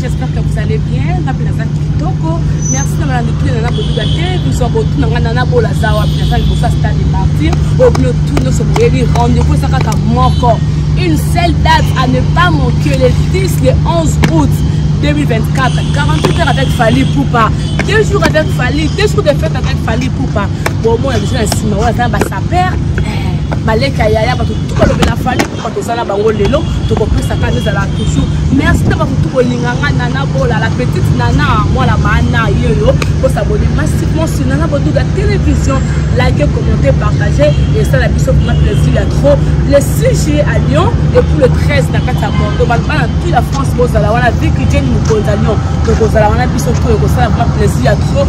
j'espère que vous allez bien nga mpe naza kitoko merci na bana mituna nana boduga te biso botuna nga nana bolaza wapi naza liboso ya stade de martyr oyo bino tu nyonso boyebi rendez-vous eza kaka moko une seule date à ne pas manquer le 10 le 11 août 2024 48 heures avec Fally Poupa deux jours avec Fally deux jours de fête avec Fally Poupa bomona biso na nsima oyo azana basaper baleka eh, yaya bato tu balobela fali mpo toza na bango lelo tokopesa ka ezala toujours merci na bato tu bolinga nga nana bola la petite nana mwana maana yoyo bosabone massivement sur nana boduga télévision like commenter partager esala biso kuna plaisir ya trop le 6 juillet à lyon et pour le 13 na kati ya bordeaux bato bana tout la france bozala wana viki jeni mokonzi ya lyon tokozala wana biso to ekosala kuna plaisir ya trop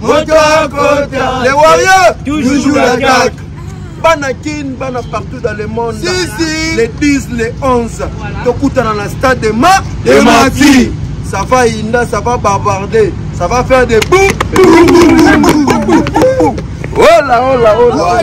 moto akota le warrior toujours attaque bana kin bana partout dans le monde si, si. le 10 le 11 voilà. tokutana na stade de ma de mati ça va inda ça va bavarder ça va faire des bou ola ola ola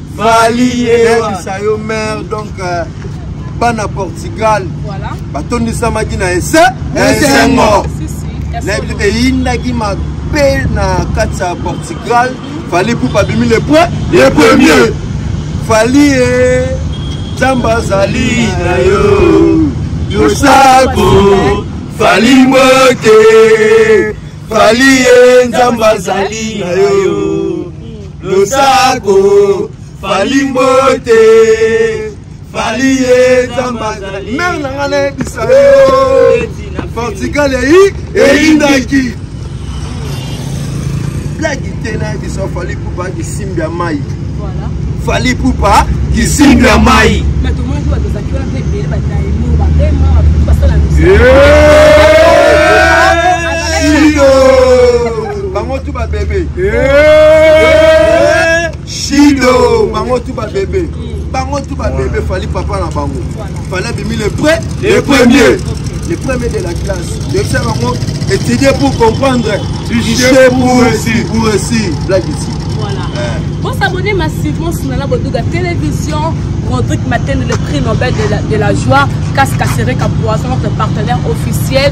Fali eyebisa yo mère donc euh, bana Portugal batondisamaki na ese na esengo nayebi eyindaki mabe na kati ya Portugal Fali Ipupa abimi le point le premier Fali e Nzambe azali na yo yosako Fali mbote Fali e Nzambe azali na yo losako fali mbote fali ye nzambe azali mere na ngai nayebisa yo portugal eyi eyindaki blagi te nayebisa fali pupa kisimbi ya mai fali pupa kisimbi ya mai Yeah! bango tu ba bebe shido bango tu ba bebe bango tu ba bebe fali papa na bango fali abimi le près le premier le premier de la classe yebisa bango étudier pour comprendre tricher pour réussir pour réussir blague ici bosabone massivement sunana boduga télévision Rodrigue Maten, le prix Nobel de la, de la joie, Casca Sereka Poisson, notre partenaire officiel.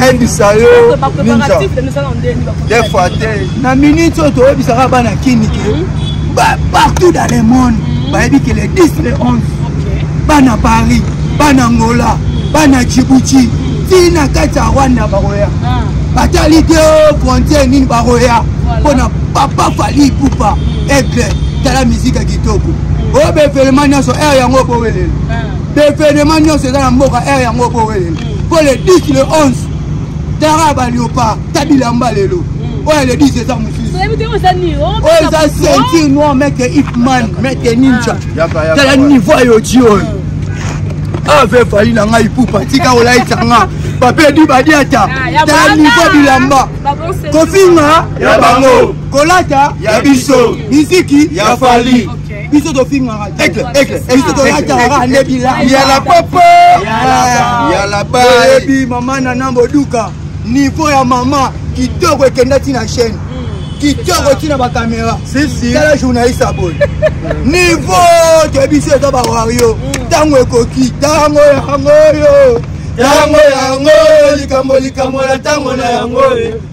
nayebisa yo defa te na minute oyo toyebisaka bana kini ke hmm? partout dans le monde hmm? bayebi ke le 10 le 11 bana paris bana angola bana djibouti ti na kati ya rwanda bakoya ah. batali te frontiere nini bakoya mpo na papa fali ipupa aigle tala mizika kitoko oyo bevenema nyonso aire yango obowelela bevenema nyonso eza na mboka aire yango obowelela mpo le 10 le 11 tara baliopa tabilamba lelo oyo le 10 eza mosusu oyo eza ceinture noir meke ipman meke ninja tala niveau ya yoti oyo ave fali na ngai pupa tika olaisa nga bape di badiata tala niveau bilamba kofinga ya bango kolata ya biso miziki ya fali biso tofingaka biso tolataka kaka nde bilayala papa yala bayebi mama na na boduka niveau ya mama kitoko ekenda ti na chaîne hmm. kitoko ti na bakamera tala journaliste aboye niveau te biso eza bawario ntango hmm. ekoki ntango yango oyo ntango yango likambo likambo na ntango na yango oyo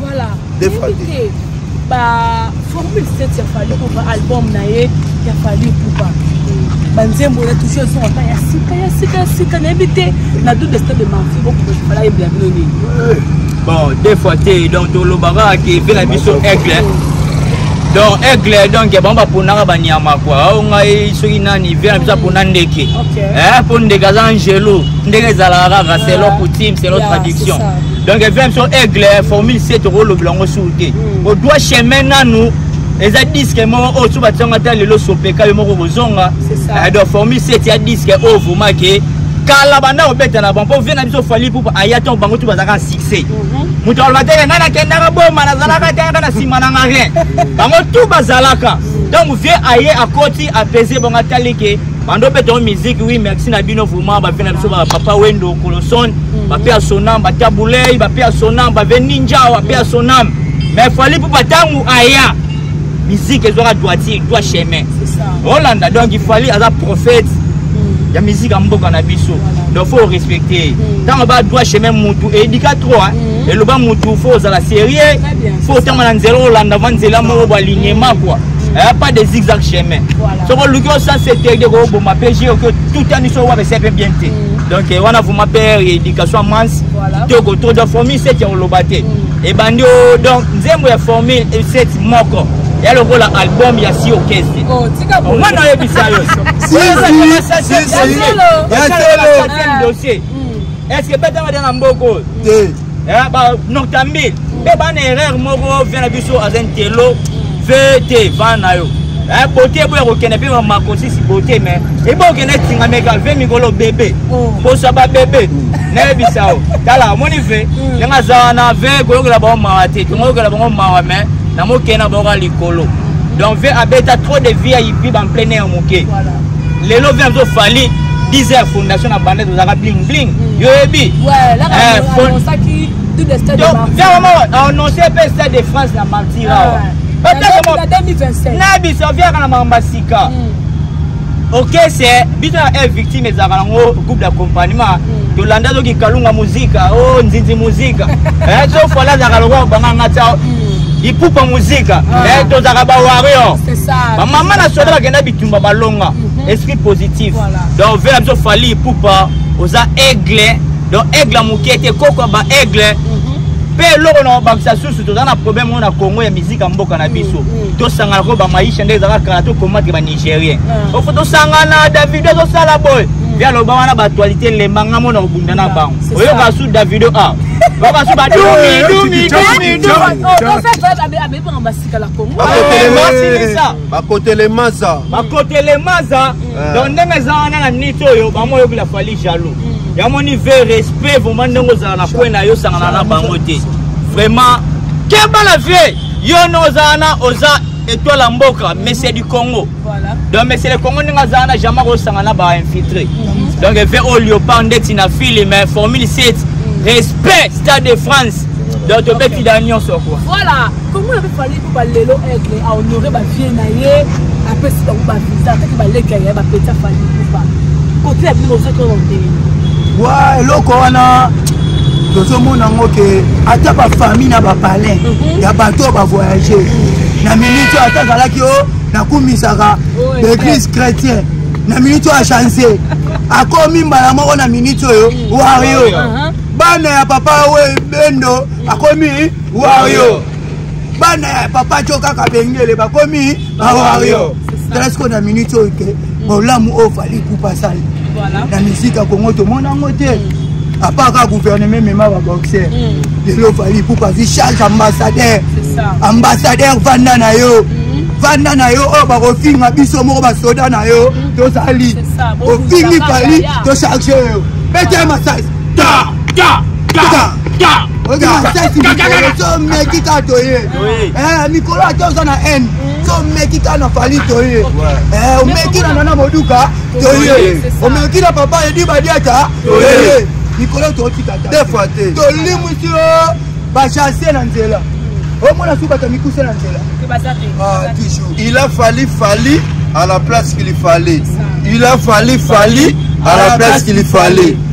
voilà éviter ba formule 7 ya fali kupa album na ye ya fali kupa banzembo na touche ezonga ta ya sika ya sika ya sika nayebi te na do de stade de marti bokoala yebela bino nini bon deux fois te donc tolobaka ke mpe na biso aigle donc aigle donc bango baponaka banyama kua ao ngai soki nani ve na biso apona ndeke mpo eh, ndeke aza angelo ndenge ezalaka kaka selon coutume selon tradition donc evi biso aigle formule c tokolobela yango suru te hmm. odwa chemin nanu eza diske moko oyo so batisanga ata lelo sopeka yo moko kozonga eh, donc formule c tia diske oyo oh, vraimen ke kala banda kobeta na bango mpo vie na biso fali pupa aya ntango bango tu bazalaka na succès mhm. moto aloba te ngai nakendaka boma nazalaka te yaka na nsima nanga rien bango tu bazalaka ntango vie aye akoti apese bango atali ke bando mpe tongo miziki wi merci na bino vraiment bape na biso bapapa wendo koloson mhm. bape ya sonam batia bulei bape ya sonam bave ninjao ape ya sonam mais fali mpo batango aya miziki ezwaka droiture dwa chemin olanda donc fali aza prophète mhm. ya miziki ya mboka na biso donc faut respecte ntango mhm. ba dwa chemin mutu edika trop eloba mutu faut ozala sérieux faut otanga na nzela olanda va nzela moko bwa lignema kua eh, pas de zigzag chemin soko oluki osanse te de koboma mpe je oki otuta miso wape se mpe bien te mm. donc eh, wana vraiment père éducation ya mansi kitoko trop donc formule seti ya koloba te mm. ebandi o donc nzembo ya formule eh, seti moko ya lokola album ya si okeste oh, omwana oyebisa yo dossier mm. est ce que betanga dia na mboko oyo eh, ba noctambile mpe eh, bana erreur moko vie na biso aza ntelo vete va na yo eh, bote eboya kokende mpe makosisi bote me eboya kokende etingameka ve mikolo bebe mposa oh. babebe nayebisa yo tala omoni ve hmm. ndenge aza wana ve koyokela bango mawa te tokoyokela bango mawa me na mokende na bango ya likolo donc ve abeta trop de vie ya ipi bamplein ya moke lelo vi azo fali 10 ya fondation na banda tozalaka bling bling mm. yo yebi annonce mpe stade de france na martir awa na biso viaka na makambo ya sika okese biso na e victime ezalaka nango groupe d'accompagnement mm. tolanda soki kalunga muzika o oh, nzinzi muzika eh, sofala azalaka lokola banganga tia mm. ipupa muzika ah. eh, tozalaka bawario bamama na soda bakenda tumba balonga mhm. esprit positif donc vela biso fali ipupa oza aigle donc aigle moke te koko ba aigle mpe mhm. eloko na babakisa susu toza na problème oyo na congo ya miziki ya mboka na biso mhm. tosangana ko bamaisha nde ezalaka kala tokomatre banigérien ah. ofo tosangana davido ezosala boye mpe aloba wana baaktualité lemba nga mona kobunda na bango oyoka su davido a ah. babasu badumidumidumidu bakotele maza bakotele maza eh. donc ndenge eza wana na niti oyo bango oyokela fali jaloux mm. yamoni ve respect vraiment ndenge ozala na kwe na yo osangana na bango te vraiment keba la vie yo no oza wana oza étoile ya mboka monsieur du congo donc monsieur le congo ndenge aza wana jamai kosanga na bainfiltré mhm. donc efe oyo liopar ndeti na fili mais formule 7 respect stade de france donc tobetila nyonso kua komona mpe fali mpo balelo aigle ahonore bavie na ye apesi bango bavisa ataki baleki ya ye bapeti afali kufa kote ya bino bozoki oyo ndenge wa eloko wana tozomona yango ke ata bafamille na bapalin mhm. ya bato oyo bavoyage na minute oyo ata azalaki o oh, nakumisaka baeglise chrétien na minute oyo achange akomi mbala moko na minute oyo wario uh-huh. bana ya papa oyo bendo akomi wario bana ya papa jo kaka bengele bakomi bawario telasko na minute oyo te bolamu oyo fali kupa asali na misika kongo tomona yango te apart kaka gouvernement emema baboxer mm. lelo fali kupa vi charge ambassadeur ambassadeur vanda na yo mm-hmm. vanda na yo oyo oh, bakofinga biso moko basoda na yo mm-hmm. tozali ofingi fali tocharge yo pete masasi ta ta ta tomeki ka toye eh, mikolo ata oza na haine tomeki ka na fali toye eh, omeki na nana moduka toye omeki na papa edi badiata toye mikolo totika tolimwisi yo bachase na nzela omona su bato mikuse na nzela ah, il a fali fali à la place qu'il fallait il a fali fali à la place qu'il fallait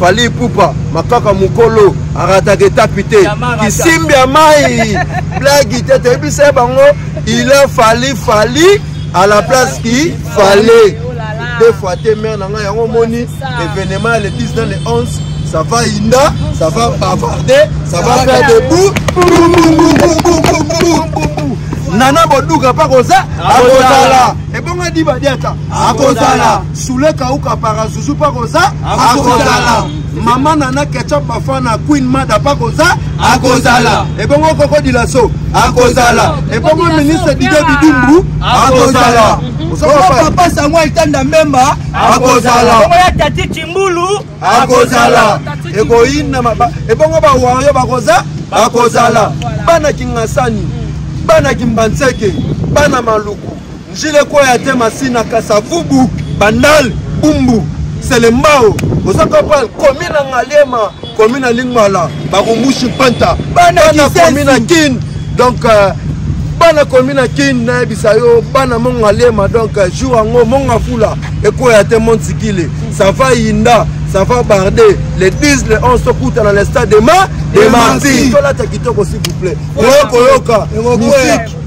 fali ipupa makaka mokolo arataka etapi te kisimbi ya mai blagi te toyebisa ye bango ila fali fali à la place qui fallait deux fois te mare na ngai yango omoni événement ya le 10 dans le 11 ça va inda ça va bavarder ça va faire des bouts nana boduka mpa koza akozala ebongo adibadiata akozala Sule kauka para zuzu pa koza akozala mama nana ketchup bafana queen mada pa koza akozala ebongo koko dilaso akozala ebongo ministre dide bidumbu akozala papa sango etanda mbemba akozala ya tati cimbulu akozala ekoyina ebongo bawario bakoza bakozala bana kingasani bana kimbanseke bana maluku Njile kwaya te masina kasavubu bandal bumbu selembao oza kapal komi na ngaliema komi na lingmala barumbushi panta bana komi na kin donc euh, bana komi na kin nayebisa yo bana monga lema donc euh, jour yango monga fula ekoya te montikile sava yinda sava barde le 10 le 11 tokutana le stade dema demarti tolata kitoko s'il vous plaît oyokoyoka musike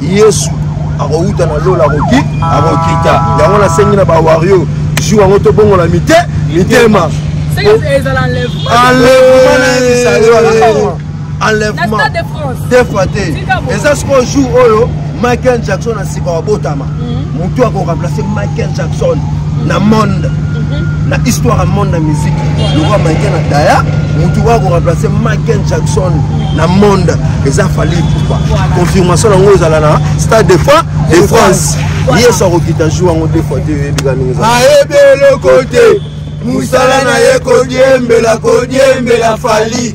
yesu akowuta na lola akoki akokita yango nasengi na bawario jour yango tobongola mite mitema enlèvement defra te eza sikoyo jour oyo michael jackson asika wabotama mhm. motu ako remplacer michael jackson na monde mhm. na histoire ya monde na musique lokola maike na daya motu oyo akoremplace michael jackson na monde eza fali pupa confirmation yango ezala na stade de fois de france yesu akokita jour yango de fois te oyebika ndenge ayebi eloko te mosala na ye kodiembela kodiembela fali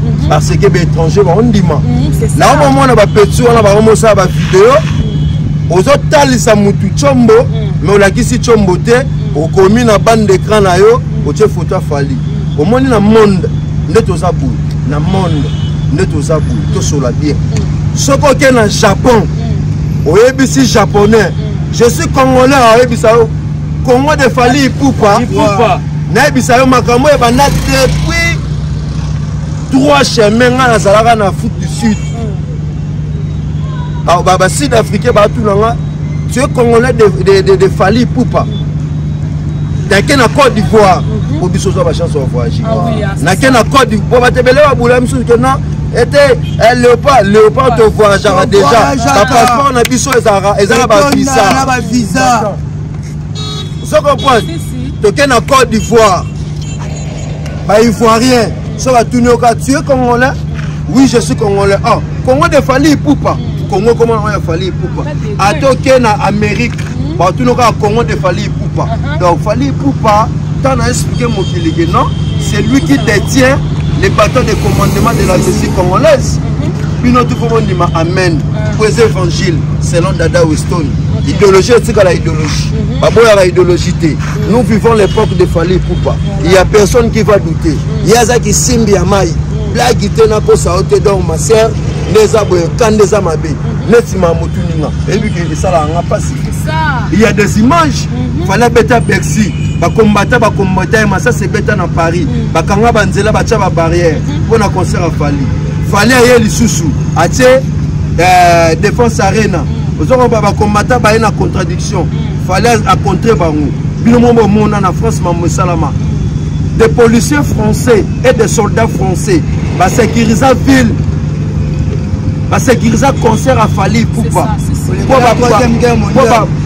parce que baétranger baondima mhm, na omomona bapeti wana bakomosala bavideo mhm. ozotalisa mutu combo mhm. me olakisi combo te okomi na bande d'écran na yo otie foto afali omoni na monde nde toza boye na monde nde toza boye tosola bien soki oke na japon oyebisi japonais je suis congolais oyebisa yo congo de fali ipupa nayebisa yo makambo ebanda depuis trois chemin ngai nazalaka na afrique du sud basud africain baatuna nga tu es congolais de, de, de, de fali pupa nake na côte d'ivoire po mhm. biso ozwa bachance ya voyage ah ah, nake na côte d'ivoire batebele babula misusu ke non ete eh, léopard léopard to voyageaka déjà bapasseport na biso ezalaka eza na bavisa ozo comprendre toke na côte d'ivoire ba ivoirien so batuni oka tu es congolais oui je suis congolais oh congo de fali ipupa congo ekoma nango ya fali ipupa ata oke na amérique batuni oka congo de fali ipupa uh-huh. donc fali ipupa ntango na explike mokili ke non c'est lui qui détient les bâtons de commandement de la russie congolaise uh-huh. bino tu fo bondima amen uh-huh. po eza évangile selon dada weston idéologie etikala idéologie baboyaka idéologie te nous vivons l'époque de fali ipupa il y a personne qui va douter mm. ye aza kisimbi ya mai mm. blagi te nakosa yo te donc ma sœur nde eza boye ka nde eza mabe mm-hmm. neti ma motuninga eyebi ke esalaka nga mpasi il y a des images mm-hmm. fala beta bercy bakombata bakombata ye masasi ebeta na paris mm. bakanga banzela batya babarrière mpo mm-hmm. na concert ya fali fali aye lisusu atie euh, défense arena mm. ozokoba bakombata baye na contradiction mm. fallait à contrer bango bino moko bomona na france mambo esalama des policiers français et des soldats français basécurisa ville basécurisa concert ya fali ipupa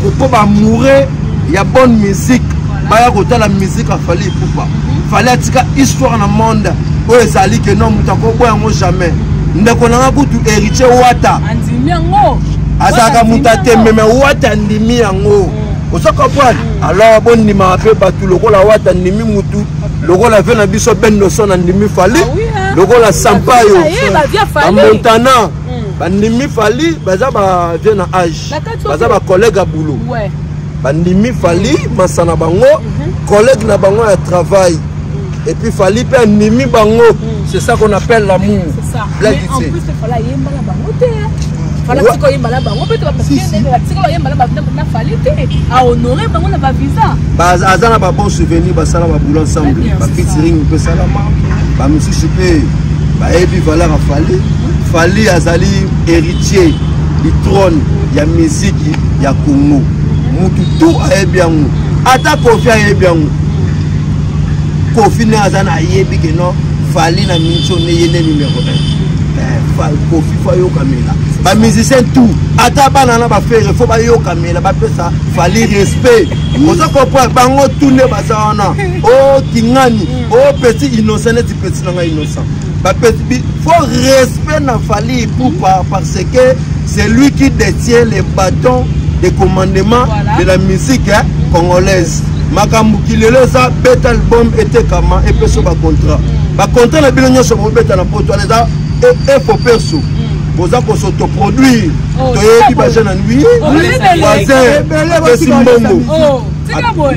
mpo bamoure ya bonne musique baya kotala musique ya fali ipupa fali atika histoire na monde oyo ezali ke no moto akoboya yango jamais ndeko na nga kutu héritier wata andimi yango azalaka moto atembe me wate andimi yango mm. oza comprendre mm. alors bondimaka mpe bato lokola wate andimi motu lokola ve na biso bendoson andimi fali ah lokola ah, sampayo bamontana mm. bandimi fali baza bavie na age baza bacollègue ya boulot bandimi fali masana bango mhm. collègue na bango ya travail et puis fali mpe andimi bango hmm. c'est ça qu'on appelle l'amour fanatika oyemba na bango mpe tobatika bayemba na bandambo na fali te ahonore bango na bavisa aza na babon souvenir basala babula ensemble bafitiring mpe esalama bamosusu mpe bayebi valeur ya fali fali azali héritier du trône ya miziki ya congo mutu tu ayebi yango ata kofi ayebi yango kofi nde aza na ayebi ke non fali na minso nde ye nde numero 1 eh, kofi fo ayokamela bamusicien tout ata bana na bafere fo bayokamela bapesa fali respect oza comprendre bango tout nde baza wana o oh, kingani o oh, petit innocent neti petit na ngai innocent bapesi fo respect na fali ipupa parce que c'est lui qui détient les bâtons de commandement voilà. de la musique hein, congolaise makambo kilelo eza beta album etekama epeso bacontrat bacontrat na bino nyonso bobeta na poto wana eza efo e perso boza kosotoproduire oh, toyebi bajeune anui voisin pesi mbongo oh.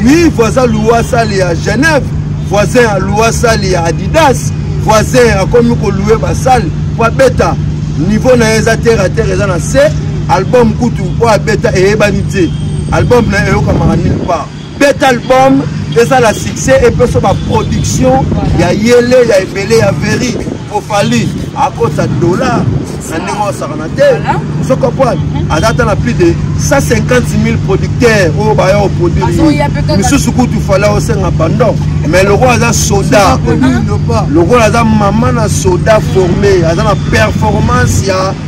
oui voisin loua sale ya genève voisin ya loua sale ya adidas voisin akomi koloue basale mpo abeta niveau na ye eza terre a terre eza na se album kutu oyo abeta eyebani te album na ye eyokamaka nil part beta album ezala succès epeso baproduction ya yele ya ebele ya veri po fali akosa dollar na ndenge osakana te soko pwale aza ata na plus de 150 000 producteur oyo baya oproduire misusu kutu fali aosenga bandon mais lokola aza soda lokola aza mama na soda forme aza na performance ya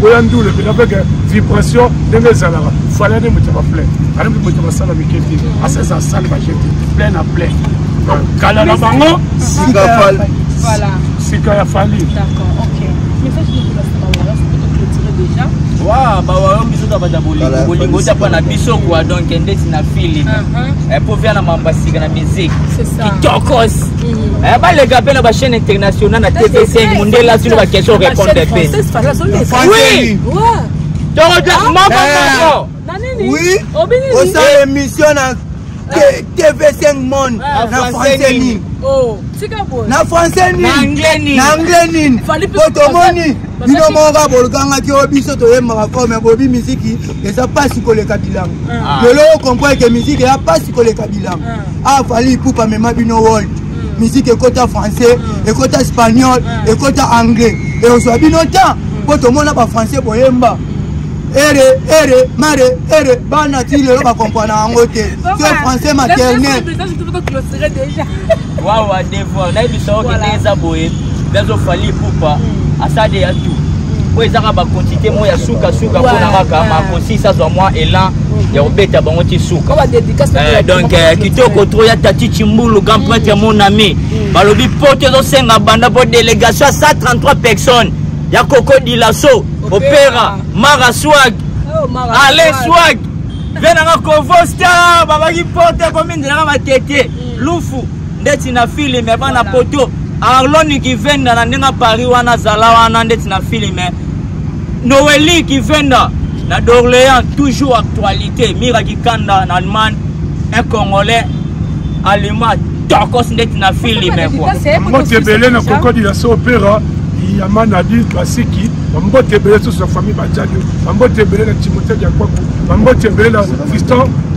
boya ndule mpenza mpe ke vibration ndenge ezalaka fali ane moto ya baplain ane moto ya basala mike te asesa asali baje te plain na plain kala na bango sika fali sika ya fali wa bawayo biso tabata bolingo bolingo otapa na biso kwa donc ndeti na fili epo via na mamba sika na miziki kitokos Eh, baleka mpe na bachaîne internationale na tv5 mondela asili baquestion répondre mpe oui tokoja ah. moko eh. moko oui osala émission na tv5 monde ah, na français nini oh, na français nini na anglais nini po tomoni bino moko kaka bolukangaki oyo biso toyembaka fo me bobi miziki eza mpasi koleka bilanga ah. lelo okompreke miziki eza mpasi koleka bilanga ah fali ipupa mema bino world mm. musique ekota français mm. ekota espagnol mm. ekota anglais ekozwa bino temps mpo tomona bafrançais boyemba ere ere mare ere bana ti lelo bakompana yango te so français maternel wawa devoir nayebisa oke nde eza boye biazo fali ipupa asade ya tu oyo ezaka bakontite moko ya sukasuka mpo na kaka makosisi azwa mwa elan ya kobeta bango ti suka eh, donc eh, kitoko tro ya tati cimbulu grand prêtre ya mon ami mm. balobi poto ezosenga banda mpo délégation ya 133 personnes ya koko dilaso opera mara swag oh, ale swag mpe nanga kovosta babaki poto ekomi ndelaka matete mm. lufu ndeti na filime bana poto arloni kivenda na ndenge paris wana azala wana ndeti na filime noeli kivenda na dorléan toujours actualité mira kikanda na allemagne un congolais allemand tokos ndeti na filime mbote ebele na kokodi ya so opera ya manadi basiki bambote ebele susu na famille bajali bambote ebele na timote diakwaku bambote ebele na fiston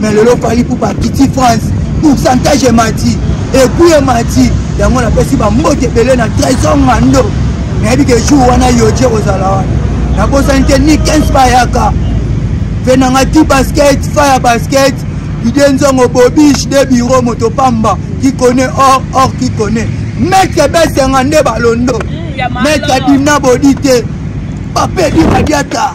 mais lelo fali pour bakiti france pourcentage emati epui emati yango napesi bambote ebele na trésor ngando nayebi ke jour wana yoje kozala wana nabosani te ni 15 bayaka mpe nanga ti basket fire basket ide nzongo bobiche de biro moto pamba qui connaît or or qui connaît maître besenga nde balondo mm, maître dimna bodi te papedi badiata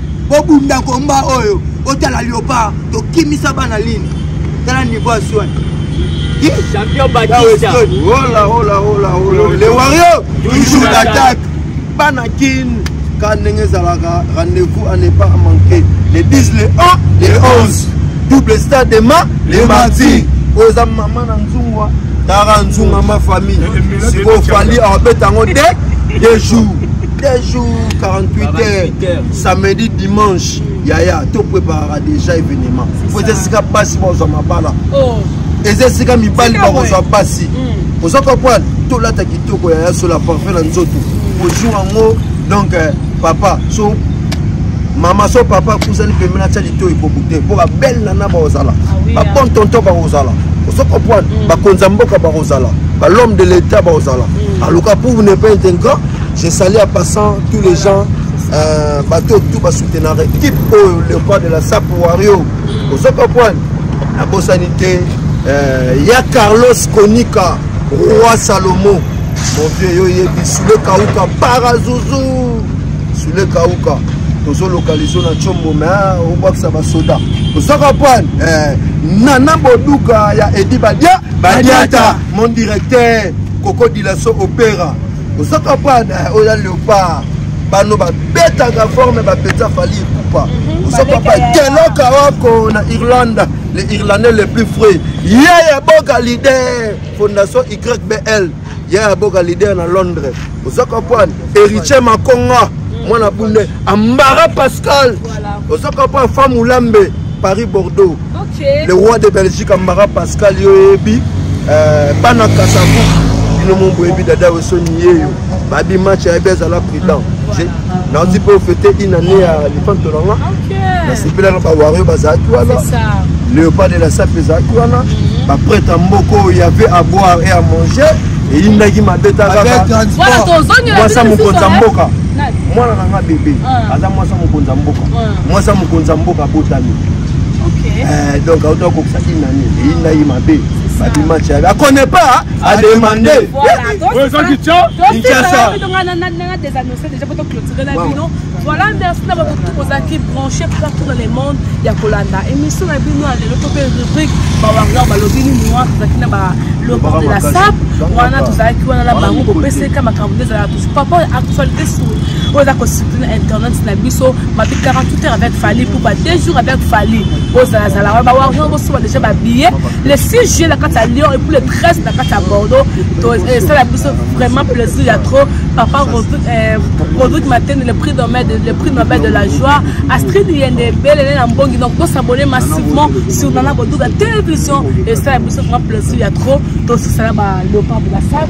bobunda komba oyo otala liopar tokimisa bana lini tala niveau ya swani champion batista hola hola hola hola le wario toujours d'attaque bana kin ka ndenge ezalaka rendez-vous à ne pas manquer le 10 le 1 le 11 double stade demain le mardi oyo eza mama na nzungwa tara nzunga ma famille sikoyo fali abeta yango te deux jours deux jours 48 heures samedi dimanche yaya to préparaka déjà événement po eza esika basi bazwa mabala oh. eza esika mibali bakozwa basi hmm. oza comprendre tolata kitoko yaya sola parfum na nzoto hmm. ojour yango donc euh, papa so mama so papa kozali pembeni atya lito ekoku te mpo babele nana bakozala babon tonton bakozala ozo comprendre bakonzi ya mboka bakozala balhomme de l'état bakozala aluka pour ne pas être grand Je salue en passant tous les gens euh, bato tout basoutenir équipe oyo le roi de la sap wario ozo comprendre nabosani te euh, ya carlos konika roi salomo mon vieux yo yebi sule kauka parazuzu sule kauka tozolokalize na combo me ah, obwakisa basoda ozo comprendre euh, nana boduka ya edi badia badiata mon directeur koko dilaso opera oza comprendre eh, oyo ya leopard bano babetaka forme bapeta fali ekupa mhm. oza papa gelaka wako na irlande le irlandais le plus frais ye ya boka leader fondation ybl ye ya boka leader na londres oza comprendre héritier makonga mhm. mwana bunde ambara pascal oza comprendre femme olambe paris bordeaux le roi de belgique ambara pascal yo oyebi euh, bana kasavu bino mo boyebi dada wesoni yeyo babi match ayebi azala prudent naozi mpe ofete une année ya lifanto na nga nasepelaka bawario bazalaki wana léopard de la sape ezalaki wana mhm. baprete ya mboka oyo yave à boire et à manger eyindaki mabe takakawasa mokonzi ya mboka mwana na nga bebe ah. aza mwasi ya mokonzi ya mboka ah. mwasi ya mokonzi ya mboka abotami Eh, donc auto akokisa ki nani eyinda ye mabe babi match yabe akone pas ademande voilà merci na bato ozalaki branché partout dans le monde ya kolanda émission na bino ya lelo to mpe rubrique bawarrior balobi nini wana tozalaki na balobor de la sap wana tozalaki wana na bango bopeseka makambo nde ezalaka papa actualité sur oyo eza kosutu na internet na biso mabe 48 heures avec fali pupa deux jours avec fali bozalazala wana bawarrior bosuba déjà babillet le 6 juillet na kati ya lyon et puis le 13 na kati ya bordeaux esala biso vraiment plaisir ya trop papa rodrik euh, matene le prix nobel le prix nobel de la joie astrid yende ebelele na mbongi donc bosabone massivement sur nana boduga télévision esala biso vraiment plaisir ya trop tosisala ba leopard de la salle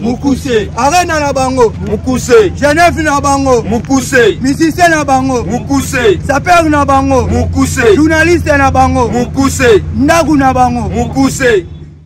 mukuse arena na bango mukuse genève na bango mukuse musicien na bango mukuse saper na bango mukuse journaliste na bango mukuse ndaku na bango mukuse